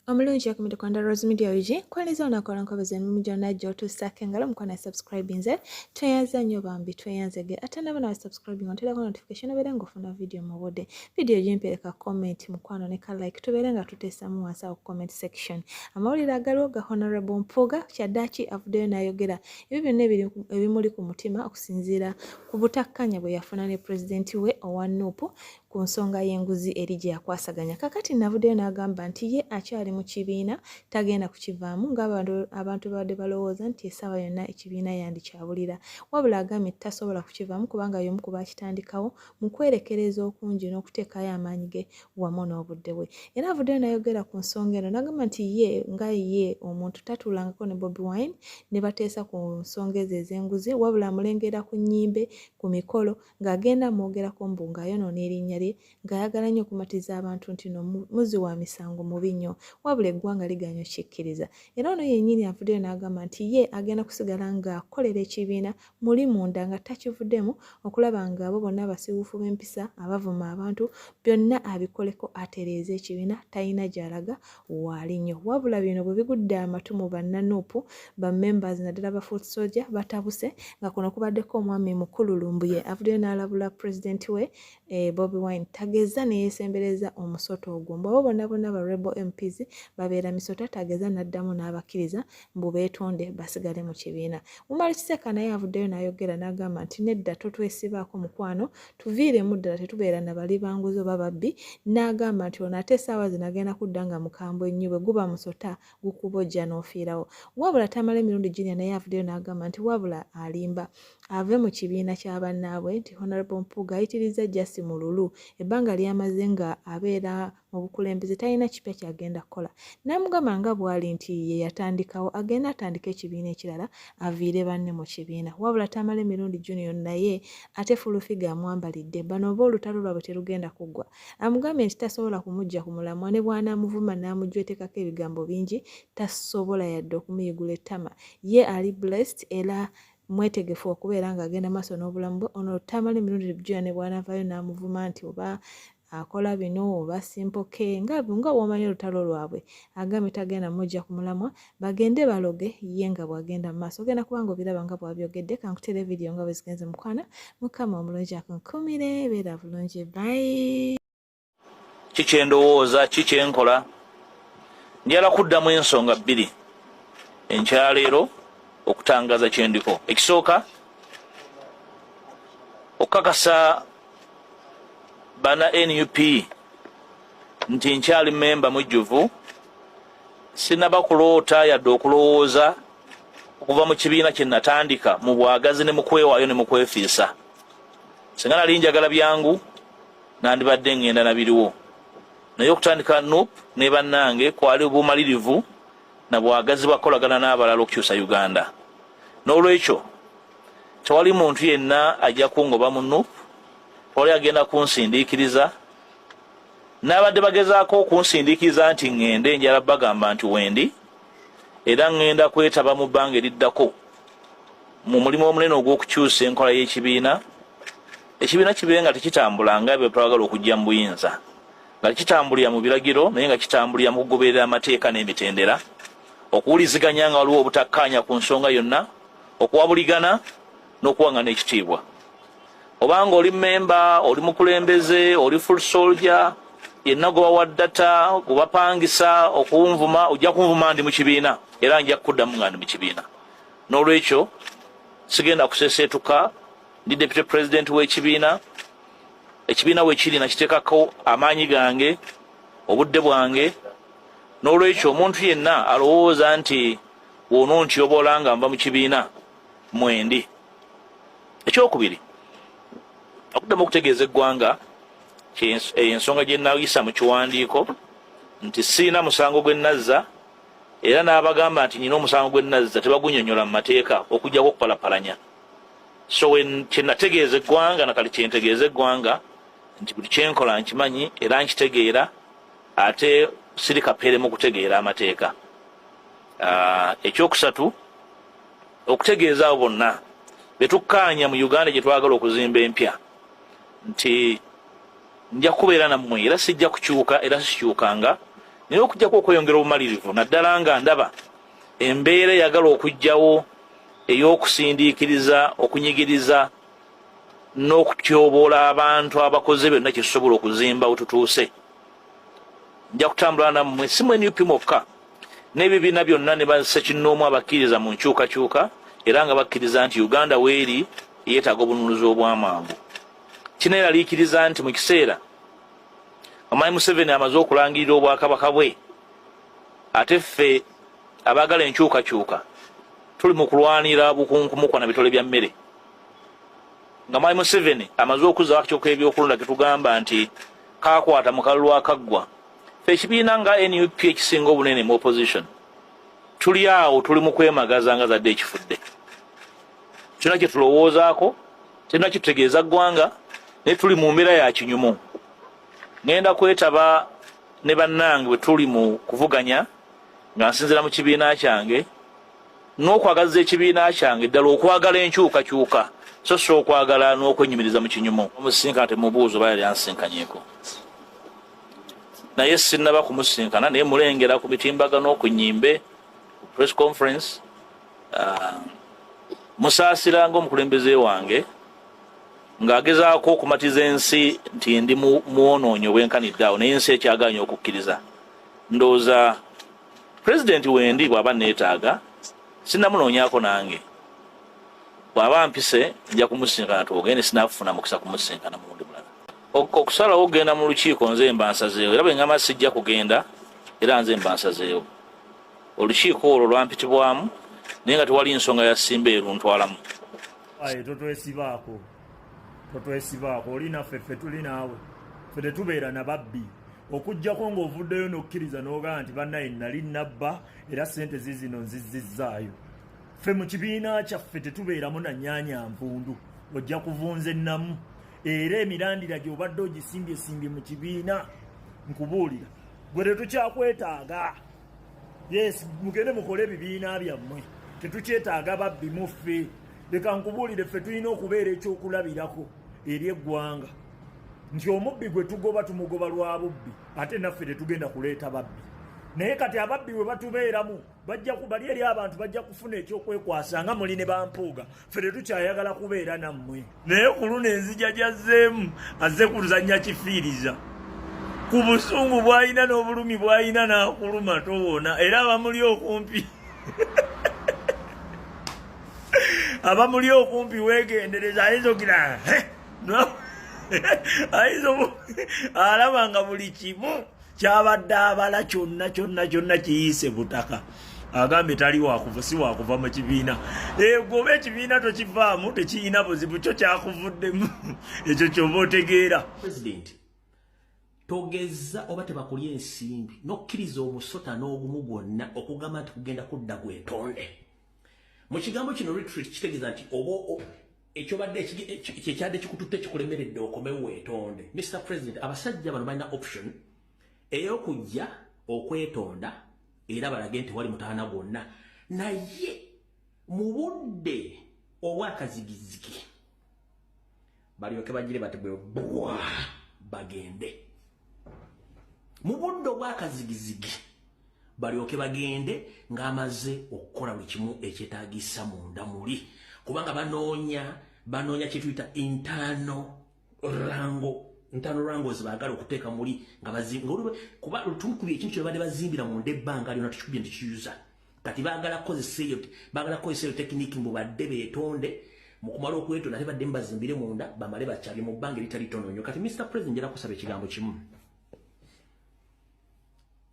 omulungi yakumide kwanda rose media ug kwaliza onakola nkobozi emimu gyonna gyotuusaako engalo mukwana subscribe nze tweyanza nnyo bambi tweyanzege ate nabona wa subscribing onterako notification obeere ngaofuna vidiyo mu budde Video gimpereka comment mukwano ne ka like tubeere nga tuteesamu wansi awo comment section. Amawulire agaliwo ga Honorable Mpuuga kyaddaaki avuddeyo n'ayogera ebyo byonna ebimuli ku mutima okusinziira ku butakkanya bwe yafuna ne pulezidenti we owa nuupu ku nsonga y'enguzi eri gye yakwasaganya. Kakati navuddeyo n'agamba nti ye akyali mu kibiina tagenda kukivaamu ng'abantu babadde balowooza nti essaawa yonna ekibiina yandikyabulira. Wabula agambye nti tasobola kukivaamu kubanga y'omu ku baakitandikawo mu kwerekereza okungi n'okuteekayo amaanyi ge wamu n'obudde bwe era avuddeyo nayogera ku nsonga eno nagamba nti ye nga ye omuntu tatuulangako ne bobi wine ne bateesa ku nsonga ezo ez'enguzi wabula amulengera ku nnyimbe ku mikolo ng'agenda amwogerako mbu ng'ayonoona erinnya lye ng'ayagala nnyo okumatiza abantu nti no muzi wa misango mubi nnyo wabula eggwanga liganya okikkiriza era ono yennyini avuddeyo n'agamba nti ye agenda kusigala ng'akolera ekibiina muli munda nga takivudemu okulaba nga abo bonna abasiwuufu b'empisa abavuma abantu byonna abikoleko atereeza ekibiina talina gy'alaga waali nnyo wabula bino bwe bigudde amatu mu bannanuupu ba members naddala ba foot soldier batabuse nga kuno kubaddeko omwami mukulu lumbuye avuddeyo n'alabula pulezidenti we e bobi wine tageza neyesembereza omusota ogwo mbu abo bonna bonna ba rebel mps babeera misota tageza n'addamu n'abakkiriza mbu beetonde basigale mu kibiina mumala kiseeka naye avuddeyo n'ayogera n'agamba nti nedda totwesibaako mukwano tuviiremu ddala tetubeera na bali banguzi oba babbi n'agamba nti ono ate esaawa zino agenda kudda nga mukambwe nnyo bwe guba musota gukuba ojja n'ofiirawo wabula tamala emirundi junior naye avuddeyo n'agamba nti wabula alimba ave mu kibiina kya bannaabwe nti honorable mpuuga ayitirizza jasi mululu ebbanga lyamaze nga abeera obukulembeze talina kipya kyagenda kukola namugamba nga bwali nti ye yatandikawo agenda atandika ekibiina ekirala aviire banne mu kibiina wabula tamala emirundi junior naye ate fulufiga amwambalidde bano oba olutalo lwabwe terugenda kuggwa amugambye nti tasobola kumujja ku mulamwa ne bwanaamuvuma n'amujwetekako ebigambo bingi tasobola yadde okumuyigula ettama ye ali blessed era mwetegefu okubeera ng'agenda maaso n'obulamu bwe ono tamala emirundi junior ne bwanavaayo n'amuvuma nti oba akola bino oba simpoke nga nga womanyi olutalo lwabwe agambye tagenda mujja ku mulamwa bagende baloge ye nga bwagenda mu maaso ogenda kubanga obiraba nga bwabyogedde kankutere vidiyo nga bwe zigenze mukwana mukama omulungi akunkumire beera bulungi bayi ki kyendowooza ki kyenkola njala kuddamu ensonga bbiri enkyaleero okutangaza kyendiko ekisooka okukakasa bana nup nti nkyali memba mujjuvu sinaba kuloota yadde okulowooza okuva mu kibiina kye natandika mu bwagazi ne mukwewaayo ne mukwefiisa singa nali njagala byangu nandibadde ngenda nabiriwo naye okutandika nup ne bannange kwali bumalirivu na bwagazi bwa kukolagana n'abalala okukyusa Uganda. N'olwekyo tewali muntu yenna ajja kungoba mu nup, tewali agenda kunsindiikiriza. N'abadde bagezaako okunsindiikiriza nti ŋŋende njala bagamba nti wendi era ŋŋenda kwetaba mu bbanga eriddako mu mulimu omunene ogw'okukyusa enkola y'ekibiina ekibiina kibe nga tekitambula nga bye twagala okujja mu buyinza. nga kitambulira mu biragiro naye nga kitambulira mu kugoberera amateeka n'emitendera okuwuliziganya nga waliwo obutakkaanya ku nsonga yonna okuwabuligana n'okuwangana ekitiibwa obanga oli memba oli mukulembeze oli full soldier yenna gwe bawa data gwe bapangisa okunvuma ojja kunvuma ndi mu kibiina era nja kukuddamu nga ndi mu kibiina n'olwekyo sigenda kuseseetuka ndi deputy president w'ekibiina ekibiina we kiri nakiteekako amaanyi gange obudde bwange n'olwekyo omuntu yenna alowooza nti wono ntyobola nga nva mu kibiina mwendi ekyokubiri okuddamu okutegeeza eggwanga eyo ensonga gye nayisa mu kiwandiiko nti siina musango gwe nazza era n'abagamba nti nyina omusango gwe nazza tebagunyonyola mu mateeka okujjako okupalapalanya so kyenategeeza eggwanga nakali kyentegeeza eggwanga nti buli kyenkola nkimanyi era nkitegeera ate siri kapeeremu okutegeera amateeka ah, ekyokusatu okutegeeza abo bonna betukkaanya mu uganda gye twagala okuzimba empya nti nja kubeera nammwe era sijja kukyuka era sikyukanga naye okujjako okweyongera obumalirivu naddala nga ndaba embeera eyagala okujjawo ey'okusindiikiriza okunyigiriza n'okutyoboola abantu abakoze byonna kyesobola okuzimba wetutuuse nja kutambula nammwe si mu nup mwokka n'ebibiina byonna ne basekinnoomu abakkiriza mu nkyukakyuka era nga bakkiriza nti uganda weeri yeetaaga obununuzi obw'amangu kino eraliikiriza nti mu kiseera omanyi museveni amaze okulangirira obwakabaka bwe ate ffe abaagala enkyukakyuka tuli mu kulwanira bukunkumukwa na bitole bya mmere nga mwali museveni amaze okuza akyoka ebyokulonda getugamba nti kakwata mu kalulu akaggwa fe ekibiina nga nup ekisinga obunene mu opposition tuli awo tuli mu kwemagaza nga zadde ekifudde kyona kye tulowoozaako kyona kitutegeeza ggwanga naye tuli mu mbeera ya kinyumu ŋenda kwetaba ne bannange bwe tuli mu kuvuganya nga nsinzira mu kibiina kyange n'okwagaliza ekibiina kyange ddala okwagala enkyukakyuka so si okwagala n'okwenyumiriza mu kinyumu omusinkana temubuuzo baya lyansinkanyeko naye sinaba kumusinkana naye mulengera ku mitimbagano ku nyimbe ku press conference ah, musaasiranga omukulembeze wange ng'agezaako okumatiza ensi nti ndi muwonoonyi obwenkanidde awo naye ensi ekyaganya okukkiriza ndowooza pulezidenti wendi bw'aba neetaaga sinamunoonyako nange bw'aba mpise nja kumusinkana twogende sinafuna mukisa kumusinkana mulundi mulala okusalawo okugenda mu lukiiko nze mba nsazeewo era bwe ngamba sijja kugenda era nze mba nsazeewo olukiiko olwo lwampitibwamu naye nga tewali nsonga yasimba eruntwalamu aye totwesibaako totwesibaako oli naffe ffe tuli naawe ffe tetubeera na babbi okujjako ng'ovuddeyo n'okkiriza n'ogaa nti bannaye nnali nnabba era ssente ziizino nzizzizzaayo ffe mu kibiina kyaffe tetubeeramu na nyaanya nvundu ojja kuvunza ennamu era emirandira gy'obadde ogisimbyesimbi mu kibiina nkubuulira gwe tetukyakwetaaga yes mugende mukole ebibiina byammwe tetukyetaaga babbi muffe leka nkubuulire ffe tulina okubeera ekyokulabirako eri eggwanga nti omubbi gwe tugoba tumugoba lwa bubbi ate naffe tetugenda kuleeta babbi naye kati ababbi we batubeeramu bajja kubali eri abantu bajja kufuna ekyokwekwasa nga muli ne bampuuga fe tetukyayagala kubeera nammwe naye ku luno enzija gyazzeemu azze kuluzannya kifiiriza ku busungu bw'alina n'obulumi bw'alina n'akuluma towona era abamuli okumpi abamuli okumpi weegendereza ayinza okira ayinza alaba nga buli kimu kyabadde abala kyonna kyonna kyonna kiyiise butaka agambye tali wakuva si wakuva mu kibiina egoba ekibiina tokivaamu tekiyina buzibu kyo kyakuvuddemu ekyo kyoba otegeera togezza oba tebakulya ensimbi nokkiriza omusota n'ogumu gwonna okugamba nti kugenda kudda gwetonde mu kigambo kino retreat kitegeeza nti oba ekyobadde kyekyadde kikututte kikulemeredde okomewo wetonde Mr President abasajja bano balina option eyokujja okwetonda era balage nti wali mutaana gwonna naye mu budde obwakazigizigi balyoke bagire bati bwe bwa bagende mu budde obwakazigizigi balyoke bagende ng'amaze okukola buli kimu ekyetaagisa munda muli kubanga banoonya banoonya kyetuyita intaano rango ntaano rango zebaagala okuteeka muli nga bazimba kuba tukubi ekintu kyebabadde bazimbira munda ebbanga lyona tukikubye nti kiyuza kati bagala kozesa eyo bagala kozesa eyo tekiniki mbu badde betonde mukumala okwetonda ate badde mbazimbire munda bamale bakyabye mu bbanga eritali tono nnyo kati mr president njala kusaba ekigambo kimu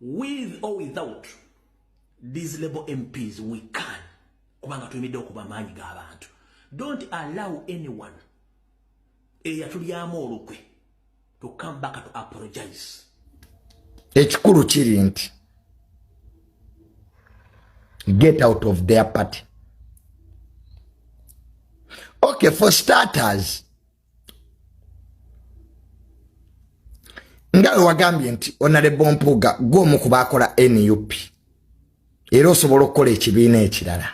with or without these label mps we can kubanga tuyimidde okuba amaanyi g'abantu don't allow anyone eyatulyamu olukwe to come back to apologize ekikulu kiri nti get out of their party okay for starters nga wewagambye nti onalebo mpuuga gwomu ku bakola nup era osobola okukola ekibiina ekirala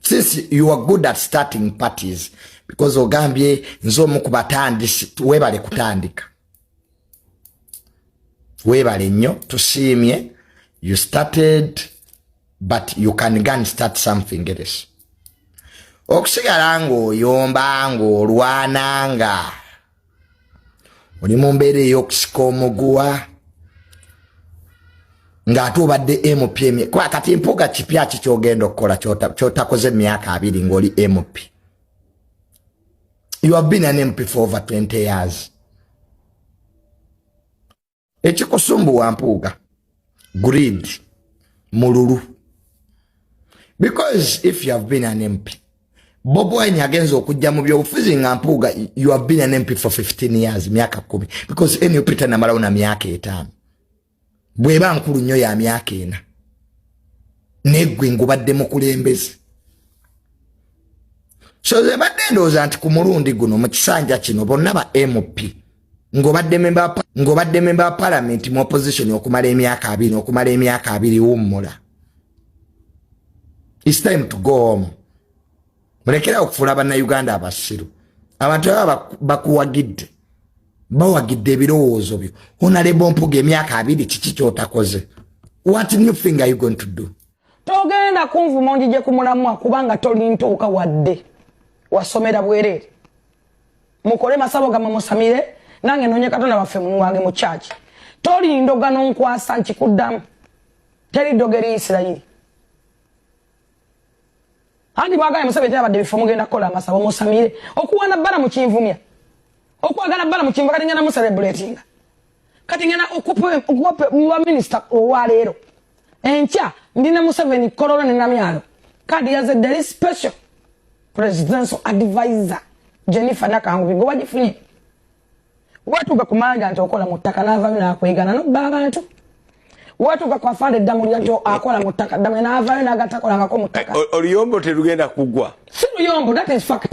since you are good at starting parties because ogambye nze omu ku batandisi webale kutandika webale nnyo tusiimye you started but you can gan start something else okusigala ng'oyomba ng'olwana nga oli mu mbeera ey'okusika omuguwa ng'ate obadde mp kuba kati mpuuga kipya ki kyogenda okukola kyotakoze emyaka abiri ng'oli mp you have been an mp for over 20 years ekikusumbuwa mpuuga greed mululu because if you have been an mp bob wine agenza okujja mu byobufuzi nga mpuuga you have been an mp for 15 years myaka kumi because nup tanamalawo na myaka etaano bweba nkulu nnyo ya myaka ena negwe ngubadde mukulembeze so zebadde ndowooza nti ku mulundi guno mu kisanja kino bonna ba mp ngobadde memba ngobadde memba parliament mu opposition okumala emyaka abiri okumala emyaka abiri wummula it's time to go home mulekera okufuula bannayuganda abasiru abantu aba bakuwagidde bawagidde ebirowoozo byo onalebo mpuga emyaka abiri kiki kyotakoze what new thing are you going to do togenda kunvuma onjije kumulamwa kubanga tolintuuka wadde wasomera bwereere mukole masabo gamwe musamire nange nonye katonda waffe muwange mu church toli ndogano nkwasa nkikuddamu teri ddogo eri isirayiri andi bwagala musabye tera badde bifo mugenda kukola amasabo musamire okuwana bbala mukinvumya okwagala bbala mukinvumya kati ngenda muserebulatinga kati ngena okuwape muba minisita owaleero enkya ndi ne museveni kololo ne namyalo kadi yaze dali special presidential advisor jennifer nakangubi gwe wagifunye watuuka ku manda nti okola mu ttaka n'avayo n'akwegana nobba abantu watuuka ku afande ddamulya nti akola mu ttaka ddamulya n'avayo n'agatakolangako mu ttaka eh, oluyombo terugenda kugwa si luyombo that is fact